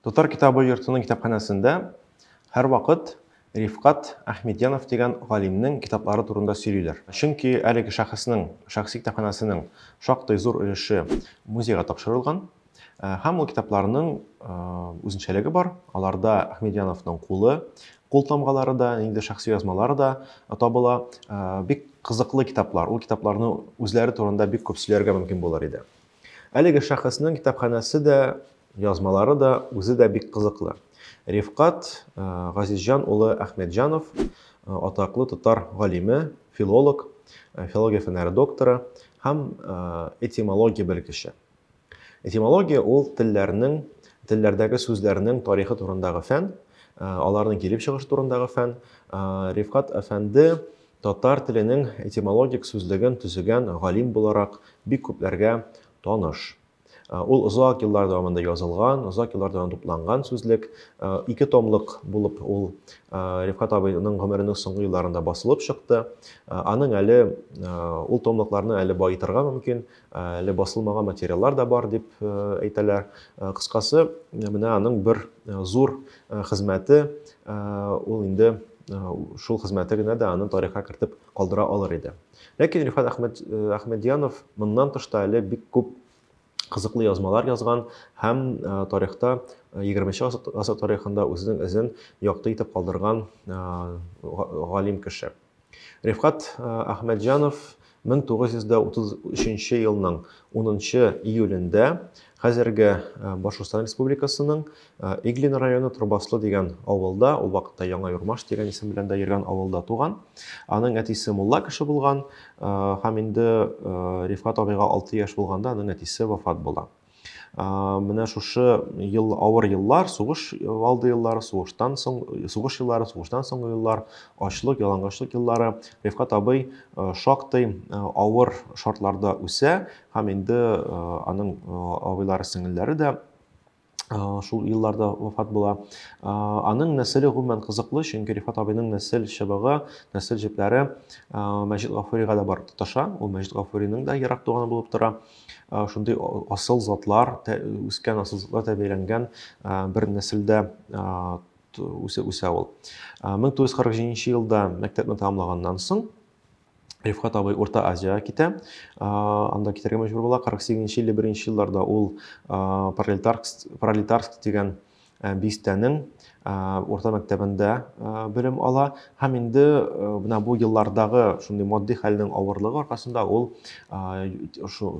Татар китабы йортының китапханәсендә һәрвакыт Рифкат Әхмедьянов дигән галимнең китаплары турында сөйлиләр. Чөнки әлеге шәхеснең шәхси китапханәсенең шактый зур өлеше музейга тапшырылган һәм ул китапларның үзенчәлеге бар. Аларда Әхмедьяновның кулы, култамгалары да, инде шәхси язмалары да табыла. Бик кызыклы китаплар. Ул китапларны үзләре турында бик күп сөйләргә мөмкин булыр иде. Әлеге шәхеснең китапханәсе дә, язмалары да, үзе дә бик кызыклы. Рифкат Газизҗан улы Әхмәтҗанов, атаклы татар галиме, филолог, филология фәннәре докторы һәм этимология белгече. Этимология ул телләрнең, телләрдәге сүзләрнең тарихы турындагы фән, аларның килеп чыгышы турындагы фән. Рифкат әфәнде татар теленең этимологик сүзлеген төзегән галим буларак бик күпләргә таныш. Ул озак еллар дәвамында язылган, озак еллар дәвамында тупланган сүзлек. Ике томлык булып ул Рифкат абыйның гомеренең соңгы елларында басылып чыкты. Аның әле ул томлыкларны әле баетырга мөмкин, әле басылмаган материаллар да бар дип әйтәләр. Кыскасы, менә аның бер зур хезмәте, ул инде шул хезмәте генә дә аны тарихка кертеп калдыра алыр иде. Ләкин Рифат Әхмәд Әхмәдьянов моннан тыш та әле бик күп кызыклы язмалар язган һәм тарихта 20-нче гасыр тарихында үзенең эзен якты итеп калдырган галим кеше. Рифкат Әхмәтҗанов 1933 елның 10 июлендә хәзерге Башкортстан Республикасының Иглин районы Трубаслы дигән авылда, ул вакытта Яңа Юрмаш дигән исем белән дә йөргән авылда туган. Аның әтисе мулла кеше булган һәм инде Рифкат абыйга 6 яшь булганда аның әтисе вафат була. менә шушы ел авыр еллар сугыш алды еллары сугыштан соң сугыш еллары сугыштан соңгы еллар ачлык ялангачлык еллары рифкат абый шактый авыр шартларда үсә һәм инде аның абыйлары сеңелләре дә шул елларда вафат була аның нәселе гомумән кызыклы чөнки рифат абыйның нәсел чыбыгы нәсел җепләре мәҗит гафурига да барып тоташа ул мәҗит гафуриның да ерак туганы булып тора шундый асыл затлар, үскән асыл затлар тәрбияләнгән бер нәселдә үсә, үсә ул. 1947 елда мәктәпне тәмамлаганнан соң Рифкат абый Урта Азиягә китә. Анда китәргә мәҗбүр була. 48 елы, 1 елларда ул Пролетарск, Пролетарск дигән Э, бистәнең э, урта мәктәбендә э, белем ала һәм инде менә бу еллардагы шундый матди хәлнең авырлыгы аркасында ул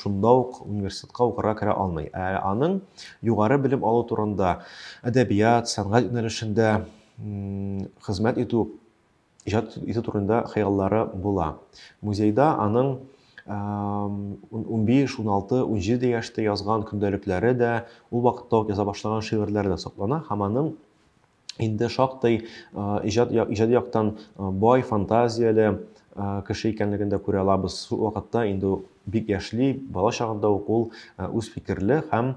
шунда ук университетка укырга керә алмый ә аның югары белем алу турында әдәбият сәнгать юнәлешендә хезмәт итү иҗат итү турында хыяллары була. Музейда аның 15, 16, 17 яшьтә язган көндәлекләре дә, ул вакытта ук яза башлаган шигырьләре дә саклана һәм аның инде шактый иҗат иҗади яктан бай фантазияле кеше икәнлеген дә күрә алабыз. Шул вакытта инде бик яшьли, бала чагында ук ул үз фикерле һәм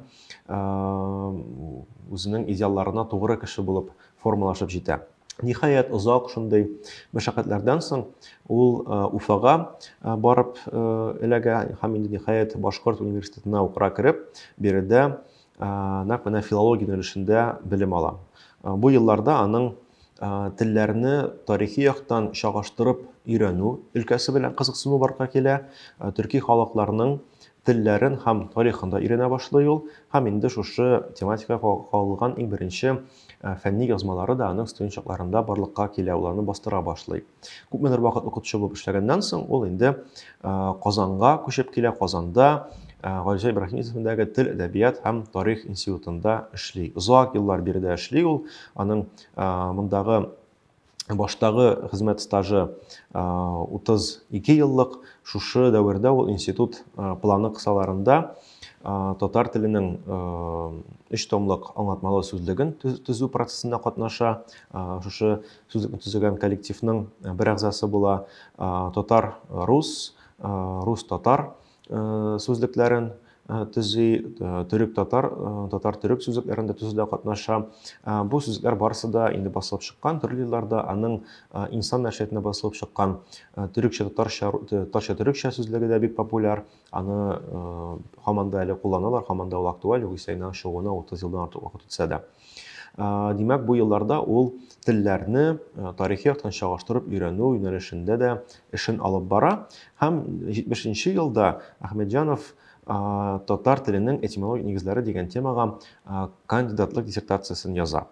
үзенең идеалларына тугры кеше булып формалашып җитә. Ниһаять, озак шундый мәшәкатьләрдән соң ул Уфага барып эләгә һәм инде ниһаять Башкорт университетына укыра кереп, биредә нәкъ менә филология юнәлешендә белем ала. Бу елларда аның телләрне тарихи яктан чагыштырып өйрәнү өлкәсе белән кызыксыну барга килә, төрки халыкларның телләрен һәм тарихын да өйрәнә башлый ул, һәм инде шушы тематикага ка- кагылган иң беренче э, фәнни язмалары да аның студент чакларында барлыкка килә, ул аны бастыра башлый. Күпмедер вакыт укытучы булып эшләгәннән соң, ул инде э, Казанга күчеп килә, Казанда э, Гайза Ибраһим исемендәге Тел, әдәбият һәм тарих институтында эшли. Озак еллар биредә эшли ул, аның э, мондагы баштагы хезмәт стажы 32 еллык, шушы дәвердә ул институт планы кысаларында татар теленең өч томлык аңлатмалы сүзлеген төзү процессында катнаша, шушы сүзлекне төзегән коллективның бер әгъзасы була, татар-рус, рус-татар сүзлекләрен төзи, төрек-татар, татар-төрек сүзлекләрен дә төзүдә катнаша. Бу сүзлекләр барысы да инде басылып чыккан, төрле елларда аның инсан нәшриятында басылып чыккан төрекчә татарча татарча төрекчә сүзлеге дә бик популяр. Аны һаман да әле кулланалар, һаман да ул актуаль, югыйсә инде аның чыгуына 30 елдан артык вакыт үтсә дә. Димәк, бу елларда ул телләрне тарихи яктан чагыштырып өйрәнү юнәлешендә дә эшен алып бара. Һәм 70-нче елда Ахмеджанов татар теленең этимологик нигезләре дигән темага кандидатлык диссертациясен яза.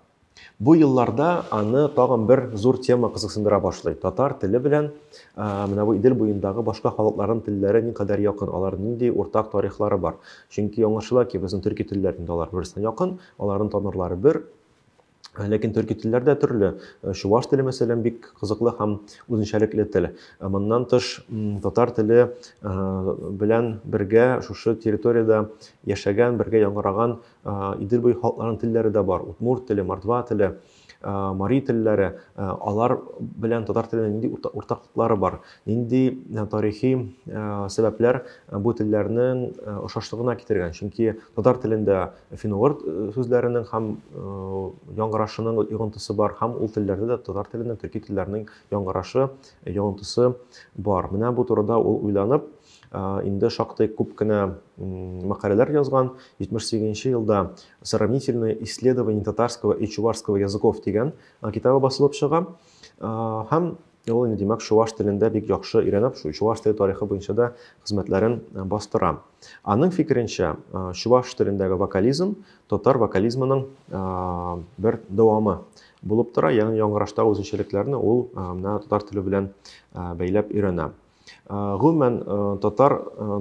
Бу елларда аны тагын бер зур тема кызыксындыра башлый. Татар теле белән менә бу Идел буендагы башка халыкларның телләре никадәр якын, алар нинди уртак тарихлары бар? Чөнки аңлашыла ки, безнең төрки телләр инде алар бер-берсенә якын, Аларның танырлары бер, Ләкин төрки телләр дә төрле. Э, чуваш теле, мәсәлән, бик кызыклы һәм үзенчәлекле тел. Э, моннан тыш, татар теле э, белән бергә шушы территориядә яшәгән, бергә яңгыраган Идел буе халыкларының телләре дә бар. Удмурт теле, мордва теле. мари телләре, алар белән татар теленең нинди уртаклыклары бар, нинди тарихи сәбәпләр бу телләрнең ошашлыгына китергән. Чөнки татар телендә финугор сүзләренең һәм яңгырашының йогынтысы бар, һәм ул телләрдә дә татар теленең төрки телләрнең яңгырашы, йогынтысы бар. Менә бу турыда ул уйланып, инде шактый күп кенә мәкаләләр язган. 78 нче елда Сравнительные исследования татарского и чувашского языков дигән китабы басылып чыга. Һәм ул инде димәк чуваш телендә бик яхшы өйрәнеп, чуваш теле тарихы буенча да хезмәтләрен бастыра. Аның фикеренчә, чуваш телендәге вокализм татар вокализмының бер дәвамы булып тора, ягъни яңгыраштагы үзенчәлекләрне ул менә татар теле белән бәйләп өйрәнә. Гомумән, татар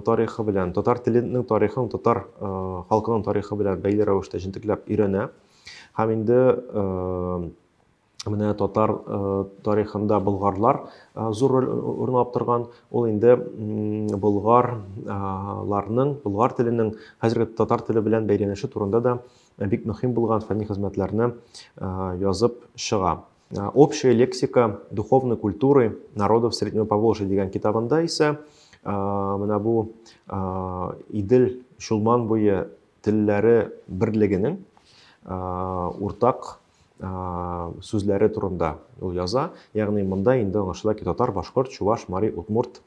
тарихы белән, татар теленең тарихын татар халкының тарихы белән бәйле рәвештә җентекләп өйрәнә. Һәм инде менә татар тарихында болгарлар зур роль урынлап торган. Ул инде болгарларның, болгар теленең хәзерге татар теле белән бәйләнеше турында да бик мөһим булган фәнни хезмәтләрне язып чыга. А, общая лексика духовной культуры народов Среднего Поволжья дигән китабында исә а, менә бу а, Идел Чулман буе телләре берлегенең уртак сүзләре турында ул яза. Ягъни монда инде аңлашыла ки, татар, башкорт, чуваш, мари, удмурт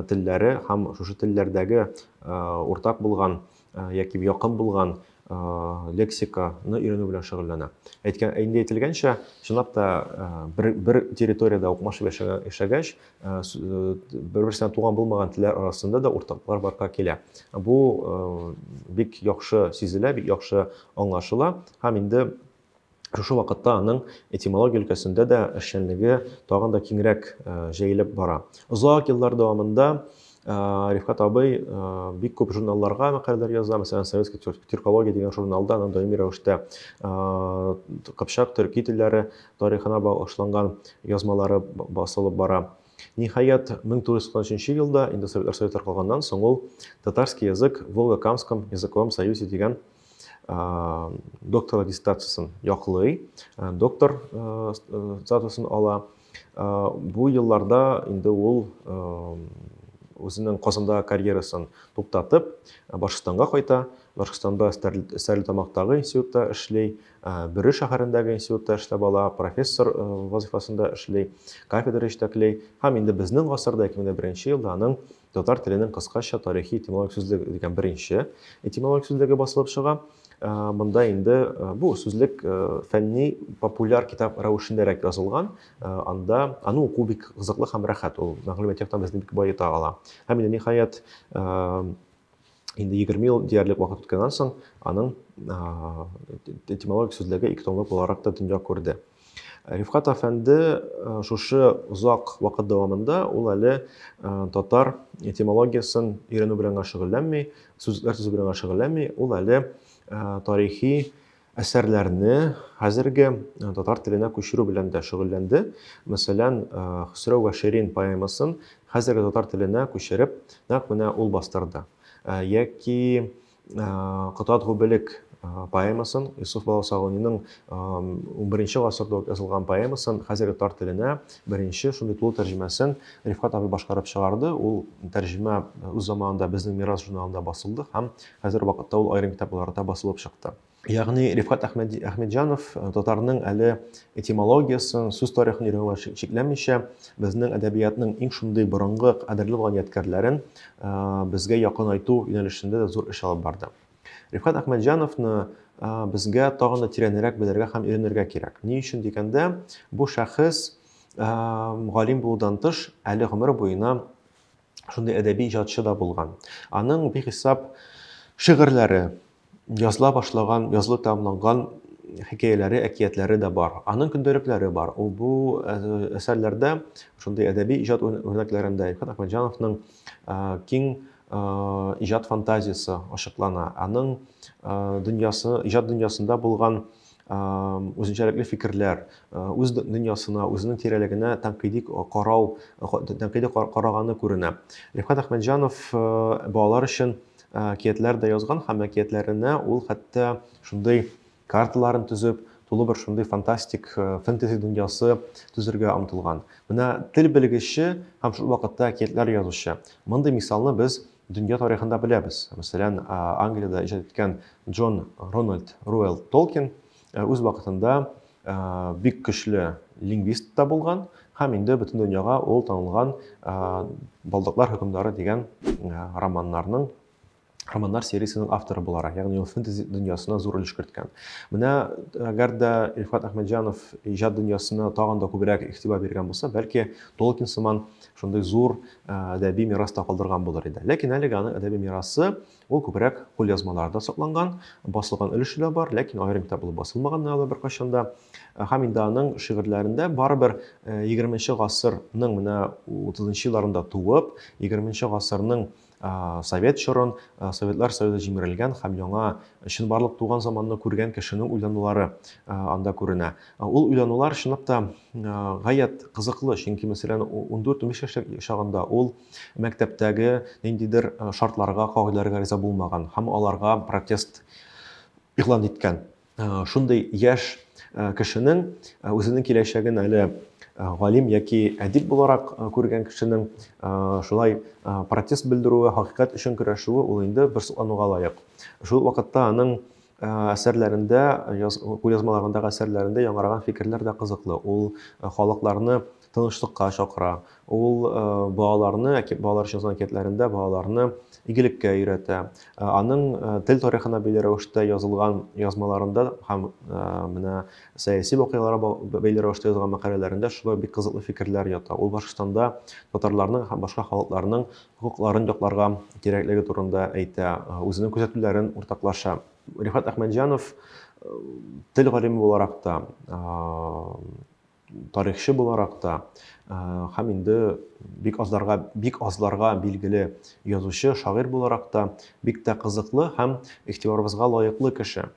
телләре һәм шушы телләрдәге уртак булган яки якын булган лексиканы өйрәнү белән шөгыльләнә. Әйткән, инде әйтелгәнчә, чынлап та бер, бер территориядә укмашып яшәгәч, бер-берсенә туган булмаган телләр арасында да уртаклар барга килә. Бу бик яхшы сизелә, бик яхшы аңлашыла һәм инде Шушы вакытта аның этимология өлкәсендә дә эшчәнлеге тагын да киңрәк җәелеп бара. Озак еллар дәвамында Рифкат абый бик күп журналларга мәкаләләр яза, мәсәлән, Советский тюркология дигән журналда аның даими рәвештә Кыпчак төрки телләре тарихына багышланган язмалары басылып бара. Ниһаять, 1993 елда, инде Советлар Советы калганнан соң ул Татарский язык в Волго-Камском языковом союзе дигән докторлык диссертациясен яклый, доктор статусын ала. Бу елларда инде ул үзенең Казанда карьерасын туктатып, Башкортстанга кайта. Башкортстанда Стәрлетамактагы институтта эшли, Бөре шәһәрендәге институтта эшләп ала, профессор вазифасында эшли, кафедра җитәкли. Һәм инде безнең гасырда 2001 елда аның Татар теленең кыскача тарихи этимологик сүзлеге дигән беренче этимологик сүзлеге басылып чыга. Э, монда инде э, бу сүзлек э, фәнни популяр китап рәвешендәрәк язылган анда аны уку бик кызыклы һәм рәхәт ул мәгълүмат яктан безне бик баета ала һәм инде ниһаять Инде 20 ел диярлек вакыт үткәннән соң аның этимологик сүзлеге ике томлык буларак та дөнья күрде. Рифкат әфәнде шушы озак вакыт дәвамында ул әле татар этимологиясын өйрәнү белән генә шөгыльләнми, сүзләр төзү белән генә шөгыльләнми, ул әле тарихи әсәрләрне хәзерге э, татар теленә күчерү белән дә шөгыльләнде. Мәсәлән, э, Хөсрәү вә Ширин поэмасын хәзерге татар теленә күчереп, нәкъ менә ул бастырды. Э, яки Кытат гүбелек поэмасын, Юсуф Баласагуниның 11 гасырда язылган поэмасын хәзерге татар теленә беренче шундый тулы тәрҗемәсен Рифкат абый башкарып чыгарды. Ул тәрҗемә үз заманында безнең мирас журналында басылды һәм Хәзер вакытта ул аерым китапларда басылып чыкты. Ягъни Рифкат Әхмәтҗанов э, татарның әле этимологиясын, сүз тарихын өйрәнүгә чикләнмичә, безнең әдәбиятның иң шундый борынгы кадерле булган ядкәрләрен э, безгә якынайту юнәлешендә дә зур эш алып барды. Рифкат Әхмәтҗановны безгә тагын да тирәнрәк белергә һәм өйрәнергә кирәк. Ни өчен дигәндә, бу шәхес галим булудан тыш, әле гомер буена шундый әдәби иҗатчы да булган. Аның бихисап шигырьләре, языла башлаган, язылып тәмамланган хикәяләре, әкиятләре дә бар. Аның көндәлекләре бар. Ул бу әсәрләрдә шундый әдәби иҗат үрнәкләрендә Илфат Әхмәтҗановның киң иҗат фантазиясе ачыклана. Аның дөньясы, иҗат дөньясында булган үзенчәлекле фикерләр, үз дөньясына, үзенең тирәлегенә тәнкыйди карау, тәнкыйди караганы күренә. Рифкат Әхмәтҗанов балалар өчен әкиятләр дә язган һәм әкиятләренә ул хәтта шундый карталарын төзеп, тулы бер шундый фантастик фэнтези дөньясы төзергә омтылган. Менә тел белгече һәм шул вакытта әкиятләр язучы. Мондый мисалны без Дөнья тарихында беләбез, мәсәлән, Англиядә иҗат иткән Джон Рональд Руэлл Толкин үз вакытында бик көчле лингвист та булган һәм инде бөтен дөньяга ул танылган Балдаклар хөкемдары дигән романнарның романнар сериясенең авторы буларак, ягъни ул фэнтези дөньясына зур өлеш керткән. Менә әгәр дә Илфат Әхмәтҗанов иҗат дөньясына тагын да күбрәк игътибар биргән булса, бәлки Толкин сыман шундый зур әдәби мирас та калдырган булыр иде. Ләкин әлеге аның әдәби мирасы ул күбрәк кулъязмаларда сакланган, басылган өлеше дә бар, ләкин аерым китап булып басылмаган да беркайчан да. Һәм инде аның шигырьләрендә барыбер 20 гасырның менә 30 елларында туып, 20 гасырның совет чорын, Советлар Союзы җимерелгән һәм яңа чынбарлык туган заманны күргән кешенең уйланулары анда күренә. Ул уйланулар чынлап та Гаять кызыклы, чөнки, мәсәлән, ундүрт-унбиш яшьлек чагында ул мәктәптәге ниндидер шартларга, кагыйдәләргә риза булмаган һәм аларга протест игълан иткән. Шундый яшь кешенең үзенең киләчәген әле галим яки әдип буларак күргән кешенең шулай протест белдерүе, хакыйкать өчен көрәшүе ул инде бер соклануга лаек. Шул вакытта аның әсәрләрендә, кулъязмаларындагы әсәрләрендә яңарган фикерләр дә кызыклы. Ул халыкларны тынычлыкка чакыра. Ул балаларны, балалар өчен язган әкиятләрендә балаларны игелеккә өйрәтә. Аның тел тарихына бәйле рәвештә язылган язмаларында һәм менә сәяси вакыйгаларга бәйле рәвештә язган мәкаләләрендә шулай бик кызыклы фикерләр ята. Ул Башкортстанда татарларның һәм башка халыкларның хокукларын якларга кирәклеге турында әйтә, үзенең күзәтүләрен уртаклаша. Рифат Әхмәтҗанов тел галиме буларак та, тарихчы буларак та һәм инде бик азларга бик азларга билгеле язучы, шагыйрь буларак та бик тә кызыклы һәм игътибарыбызга лаеклы кеше.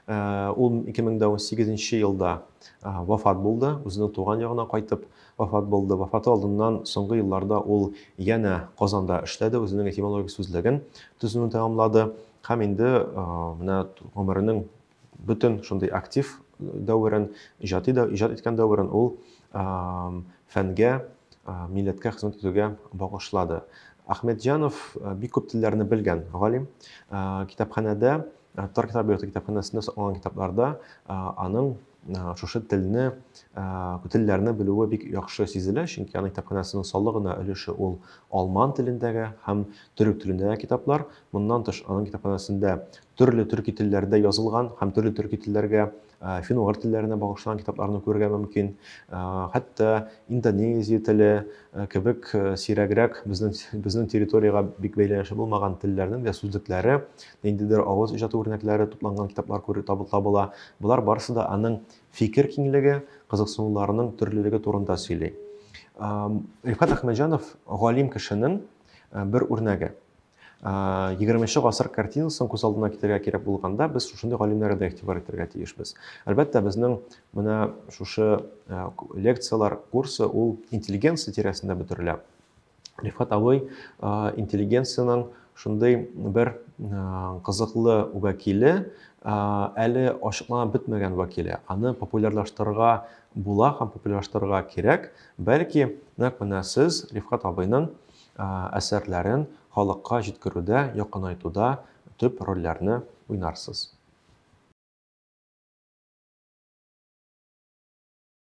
Ул 2018 нче елда вафат булды, үзенең туган ягына кайтып вафат булды. Вафаты алдыннан соңгы елларда ул янә Казанда эшләде, үзенең этимологик сүзлеген төзүне тәмамлады һәм инде менә гомеренең бөтен шундый актив дәверен, иҗади да иҗат иткән дәверен ул фәнгә, милләткә хезмәт итүгә багышлады. Ахмедҗанов бик күп телләрне белгән галим. Китапханәдә Тар китап йорты китапханәсендә сакланган китапларда аның шушы телне, телләрне белүе бик яхшы сизелә, чөнки аның китапханәсенең саллы гына өлеше ул алман телендәге һәм төрек телендәге китаплар. Моннан тыш, аның китапханәсендә төрле төрки телләрдә язылган һәм төрле төрки телләргә фин-угыр телләренә багышланган китапларны күрергә мөмкин. Хәтта индонезия теле кебек сирәгрәк безнең безнең территориягә бик бәйләнеше булмаган телләрнең дә сүзлекләре, ниндидер авыз иҗаты үрнәкләре тупланган китаплар күреп табыла. Болар барысы да аның фикер киңлеге, кызыксынуларының төрлелеге турында сөйли. Рифкат Әхмәҗанов галим кешенең бер үрнәге. егерменче гасыр картинасын күз алдына китерергә кирәк булганда без шушындый галимнәргә дә игътибар итәргә тиешбез әлбәттә безнең менә шушы лекциялар курсы ул интеллигенция тирәсендә бөтерелә рифат абый интеллигенциянең шундый бер кызыклы вәкиле әле ачыкланып бетмәгән вәкиле аны популярлаштырырга була һәм популярлаштырырга кирәк бәлки нәкъ менә сез рифат абыйның әсәрләрен халыкка җиткерүдә, якынайтуда төп рольләрне уйнарсыз.